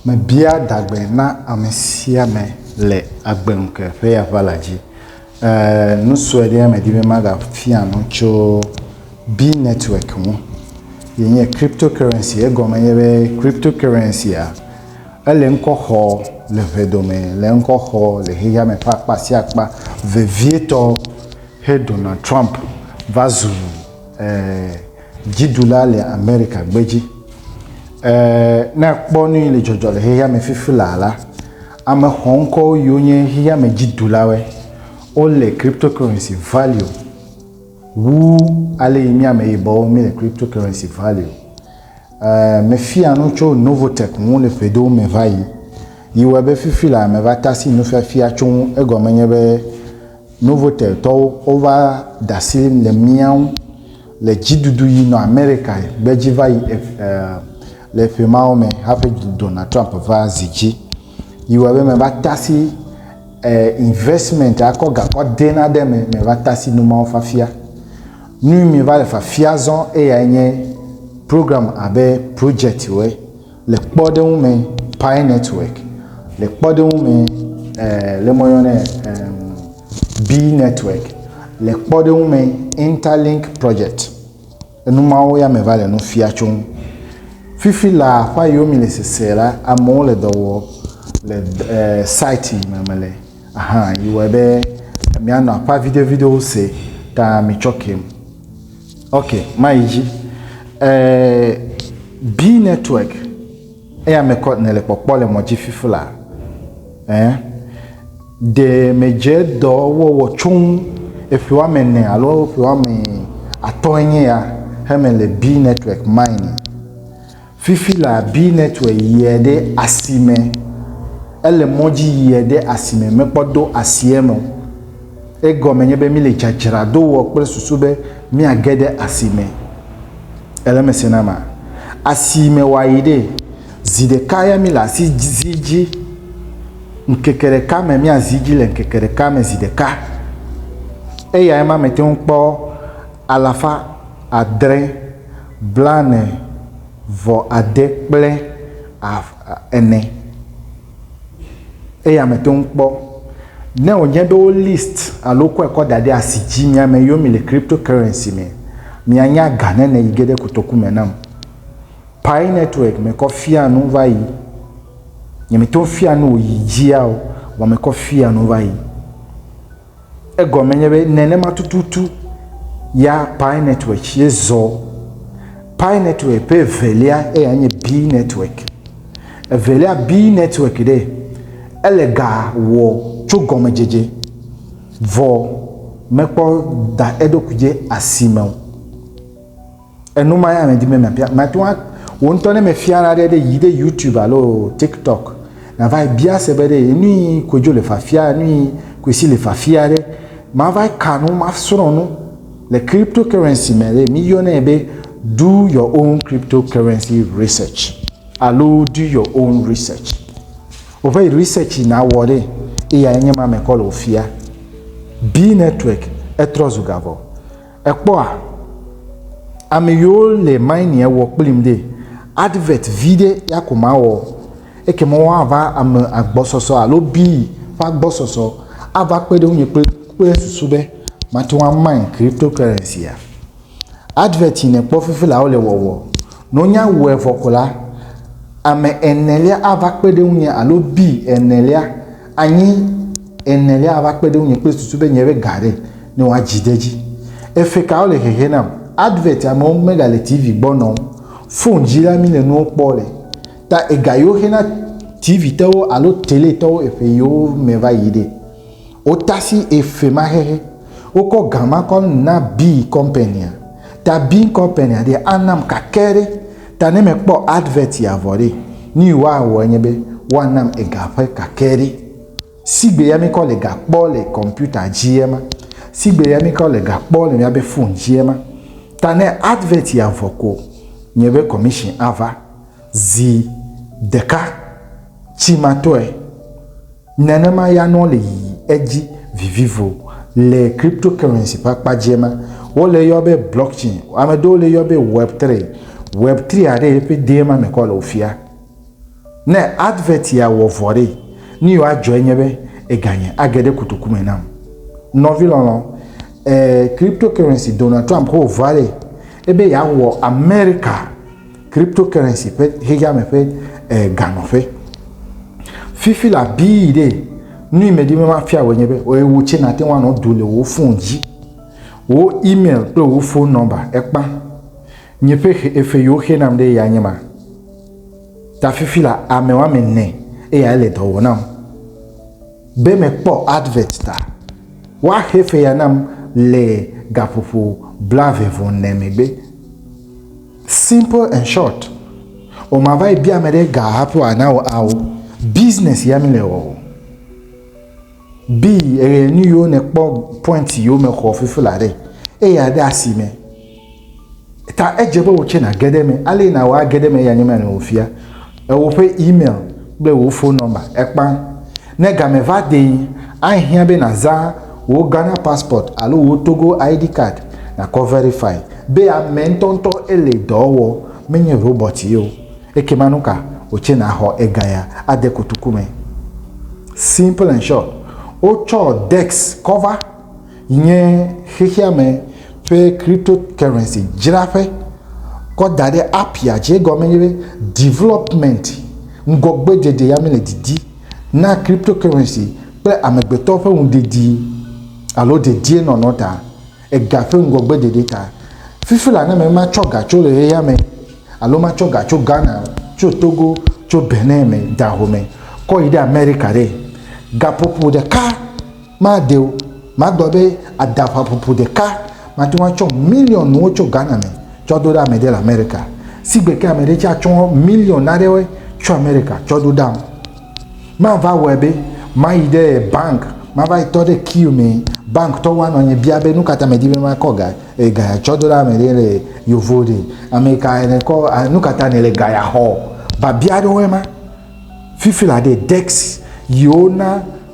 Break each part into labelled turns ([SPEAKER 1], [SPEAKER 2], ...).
[SPEAKER 1] Mebia adagbe na ame sia ame le agbe ŋke ƒe aʋa la dzi. Eee nu sue ɖe medi be magafia nu tso Bi netwɔk ŋu yi nye kripto korensi. Egɔme nye be kripto korensia ele ŋkɔ xɔ le ŋe dome le ŋkɔ xɔ le xexea me ƒe akpa sia akpa vevietɔ xe Donald Trump va zu eee. Dziɖula le Amerika gbedzi. E Ne àkpɔ nu yi le dzɔdzɔ le xexea me fifi laa la, ame xɔŋkɔwo yiwo nye xexea me dziɖulawoe. Wole cryptocurrency value wu ale yi mí ameyibɔwo míle cryptocurrency value. E Mefia nu tso Novotech ŋu le ƒedowo me va yi yi wɔe be fifi laa meva tasi nufiafia tso ŋu. Egɔme nye be, Novoteltɔwo wova de asi le mía ŋu le dziɖuɖu yi nɔ Amerika gbe dzi va yi le ƒe mawo me hafi Donald Trump va zi dzi. Yi wɔ be me va tasi investment akɔ gakɔ de na ɖe me me va tasi nu mawo fafia. Nu mi va le fafia zɔn eya nye program abe project we. Le kpɔɖeŋu me Pi netwɔk, le kpɔɖeŋu me e le woyɔnɛ be e Bi netwɔk, le kpɔɖeŋu me Intalink projɛt. Enu mawo ya me va le nu fia tso ŋu. Fifi la ƒe ayiwo mi le sese la amewo le dɔ wɔm le e sati yi me mele ahan yi wɔe be mianɔ aƒea viɖe viɖewo se ta mitsɔ kem. Ok, mayi dzi. Eh, B network. Eya me kɔ ne le kpɔkpɔ le mɔdzi fifi la. Eh, de me dze dɔ wɔwɔ tsoŋ eƒe woame ne alo eƒe woame atɔ enye ya he me le B network mine. Fifi la bi netwɛ yiɛ ɖe asime. Ele mɔ dzi yiɛ ɖe asime mekpɔ do asiɛ me o. Egɔme nye be mi le dzadzra do wɔ kple susu be mia ge ɖe asime. Ele me se na ma. Asime wa yi ɖe. Zi ɖeka ya mi le asi zi dzi. Ŋkeke ɖeka me mia zi dzi le ŋkeke ɖeka me zi ɖeka. Eyae ma me teŋ kpɔ alafa adre Blane vɔ ade kple af ene eye ame to ŋu kpɔ ne wo nye be wo list alo wo kɔe kɔ da ɖe asi dzi mia me yo mi le crypto currency me mia nya ga ne ne yi ge ɖe kotoku me nam pi network me kɔ fia nu va yi nye me to ŋu fia nu wo yi dzia o wa me kɔ fia nu va yi. Egɔme nye be nenema tututu ya Pi network tsie zɔ. Pi network ƒe evelia eya nye Bi network. Evelia Bi network ɖe ele ga wɔ tso gɔmedzedze vɔ mekpɔ da eɖokui dzi asime o. Enu ma ya medi be mabia. Mate ŋu wò ŋutɔ ne mefia na ɖe ɖe yi ɖe YouTube alo TikTok nava bia se be ɖe nu yi kodzo le fafia, nu yi kosi le fafia ɖe mava ka nu, masrɔ̃ nu le cryptocurrency me ɖe mi yɔnɛ be do your own cryptocurrency research alo do your own research. Woƒe research yi nawɔ ɖe eya nye ma mekɔ le wò fia. Be network etrɔ zu gavɔ. Èkpɔa? Amɛyiwo le minie wɔ kplim ɖe, advert viɖe ya ko mawɔ, ekema woava ame agbɔsɔsɔ alo bii ƒe agbɔsɔsɔ ava kpe ɖe ŋunye kple kple susu be mate ŋu amine cryptocurrency-a. Advert yi nèkpɔ fifi la wole wɔwɔ. Ne wonya wɔe vɔ ko la, ame enelia ava kpe ɖe ŋunye alo bii enelia Anyi enelia ava kpe ɖe ŋunye kple susu be nye ɖe ga aɖe ne woa dzi de edzi. Efe ka wole hehe nam? Advert amewo mega le TV gbɔ nɔ o. Phone dzi la mi le nuwo kpɔ le. Ta ega yiwo xe na TV tɔwo alo tele tɔwo efe yiwo me va yi ɖe. Wo tasi efe ma hehe. Wo kɔ gama kɔ na Bing company a. Ta Bing company a ɖe anam kake ɖe. Ta ne mekpɔ advert ya vɔ ɖe, nuyi woawɔ nye be woanam ega ƒe kakɛ ɖe. Sigbe ya mikɔ le ga kpɔ le kɔmpita dzi ema. Sigbe ya mikɔ le ga kpɔ le miabe fon dzi ema. Ta ne advert ya vɔ ko, nye be commission ava. Zi ɖeka tsi matɔe. Nenema ya nɔ le yiyi edzi vivivo. Le cryptocurrency ƒe akpa dzie ma, wole eyɔ be blockchain, ame ɖewo le eyɔ be web three. Web three a ɖe eƒe dee ma me kɔ le wofia. Ne advert ya wɔ vɔ ɖe, nu yi woadzɔ enye be eganye age ɖe kotoku me nam. Nɔvi lɔlɔ, e cryptocurrency Donald Trump ko wòva ɖe ebe yeawɔ America. Cryptocurrency ƒe xexeame ƒe ganɔƒe. Fifi la bii ɖe nu yi medi be mafia wò nye be wò tsɛ nàte ŋu anɔ do le wò fon dzi. Wò email kple wò fon nɔmba ekpa. Nye ƒe xe efe yi woxe nam ɖe ya nye ma. Ta fifi la ame woame ene eya ele dɔ wɔ nam. Be mekpɔ advert ta woaxe efe ya nam le gaƒoƒo blaeve vɔ ne megbe. Simple and short. O ma va yi bia me ɖe ga hafi wa na o ao. Business ya mi le wɔ o. Bi eye nu yo ne kpɔ point yo me xɔ fifi la ɖe. E ya de asi me. Ta edze be o tse na gede me. Ale na wa gede me ya nye me le o fia. Ewò ƒe email kple wò fon nɔmba ekpã. Ne game va dee, ahiã be nàzã wò Ghana passport alo wò Togo ID card nàkɔ verify be ame ŋutɔŋutɔ ele dɔ wɔ, menye robɔt ye o. Ekema nuka wòtse nàxɔ egaya ade kotoku me? Simple and short, wotsɔ Dex kɔ va. Nye xexeame ƒe cryptocurrency dzraƒe kɔ da ɖe app ya dzi. Egɔme nye be development, ŋgɔgbeɖeɖe ya mele didi na cryptocurrency kple amegbetɔ ƒe ŋuɖedi alo dedienɔnɔ ta, ega ƒe ŋgɔgbeɖeɖe ta. Fifi la ne matsɔ ga tso ʋeya me alo matsɔ ga tso Ghana, tso Togo, tso Benin me, Dahomey kɔ yi ɖe America ɖe, gaƒoƒo ɖeka Made o. Magblɔ be adaŋaƒoƒo ɖeka mate ŋu atsɔ miliɔnwo tso Ghana me tsɔ do ɖe ame ɖe le Amerika. Sigbe ke ame ɖe tsɛ atsɔ miliɔn aɖewoe tso Amerika tsɔ do ɖam. Mava wɔe be mayi ɖe banki, mava yi tɔ ɖe kiu me, bankitɔwo anɔ nye bia be nu ka ta medi be makɔ ga e ga tsɔ do ɖe ame ɖe le Yovo ɖe. Ame kae nèkɔ a nu ka ta nèle ga ya xɔ? Biabia aɖewoe ma. Fifi la ɖe, dɛksi yi wona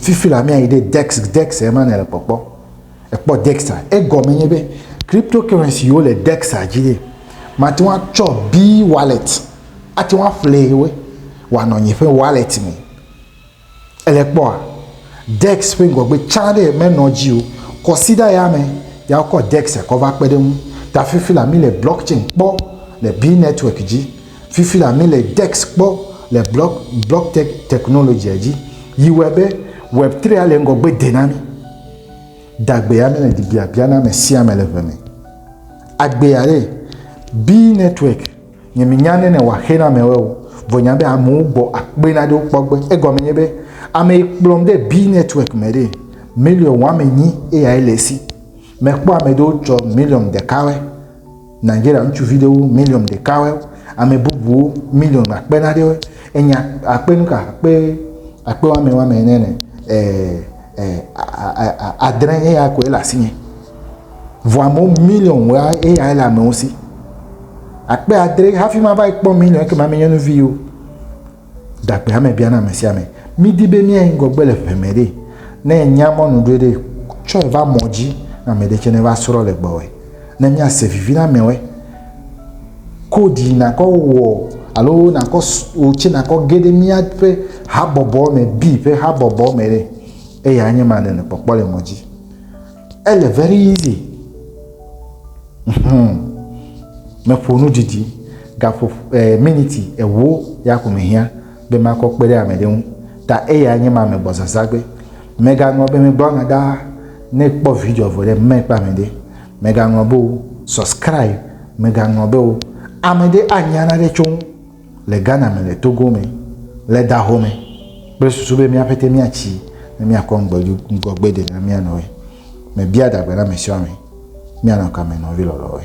[SPEAKER 1] Fifi la mía yi ɖe dex dex ema ne le kpɔkpɔ. Ekpɔ dex a. Egɔme nye be cryptocurrency wo le dex a dzi ye. Mate ŋu atsɔ B wallet ate ŋu aƒle wo wɔanɔ nye ƒe wallet me. Ele kpɔa? Dex ƒe ŋgɔgbe tsã ɖe menɔ dzi o. Kɔsiɖa ya me ya wokɔ dex kɔ va kpe ɖe eŋu. Ta fifi la mi le blockchain kpɔ le B network dzi. Fifi la mi le dex kpɔ le block block tech technology a dzi yi wɔe be web three a le ŋgɔgbe de na mi. Dagbe ya mi le di biabia na me sia me le ʋe me. Agbe a le B network nye mi nya nene wa xe na me wɔe o vɔ nya be amewo gbɔ akpe na ɖewo kpɔ gbe egɔme nye be ame yi kplɔm de B network me ɖe million wɔme nyi eya ele si me kpɔ ame ɖewo tsɔ million ɖeka wɔe. Nigeria ŋutsuvi ɖewo miliɔn ɖeka wɛ, ame bubuwo miliɔn akpe na ɖe wɛ. Enya akpe nu ka akpe akpe wame wame ne ne e e adre eya koe le asinye. Vɔ amewo miliɔn wɛ eya le amewo si. Akpe adre hafi mava ekpɔ miliɔn ekema menye nu vi o. Ɖagbe ame biana ame sia ame. Mídi be míayi ŋgɔgbe le ʋe me ɖe. Ne ènya mɔnu ɖoe ɖe, tsɔe va mɔ dzi na ame ɖe tsɛ ne va srɔ̃ le gbɔwòe. Ne míase vivi na amewoe, kodi nàkɔ wɔ alo nàkɔ wò tsɛ nàkɔ ge ɖe míaƒe habɔbɔ me, bi ƒe habɔbɔ me ɖe, eyae nye ma nèle kpɔkpɔ le mɔ dzi. Ele very easy. Hum. Meƒo nu didi. Gaƒo eh, miniti ewo ya ko mehiã be makɔ kpe ɖe ame ɖe ŋu. Ta eya nye ma megbɔ zazagbe. Megaŋlɔ be megblɔ nya ɖaa. Ne kpɔ video vɔ ɖe me kple ame ɖe. Megaŋlɔ be o subscribe. Megaŋlɔ be o ame ɖe anya naɖe tso ŋu. Le Ghana me, le Togo me, le Daho me kple susu be mía ƒete míatsi ne míakɔ ŋgɔgbe de na mía nɔe. Mebia adagbe na amesiɔame, Míanɔ kame nɔvi lɔlɔ̃woe?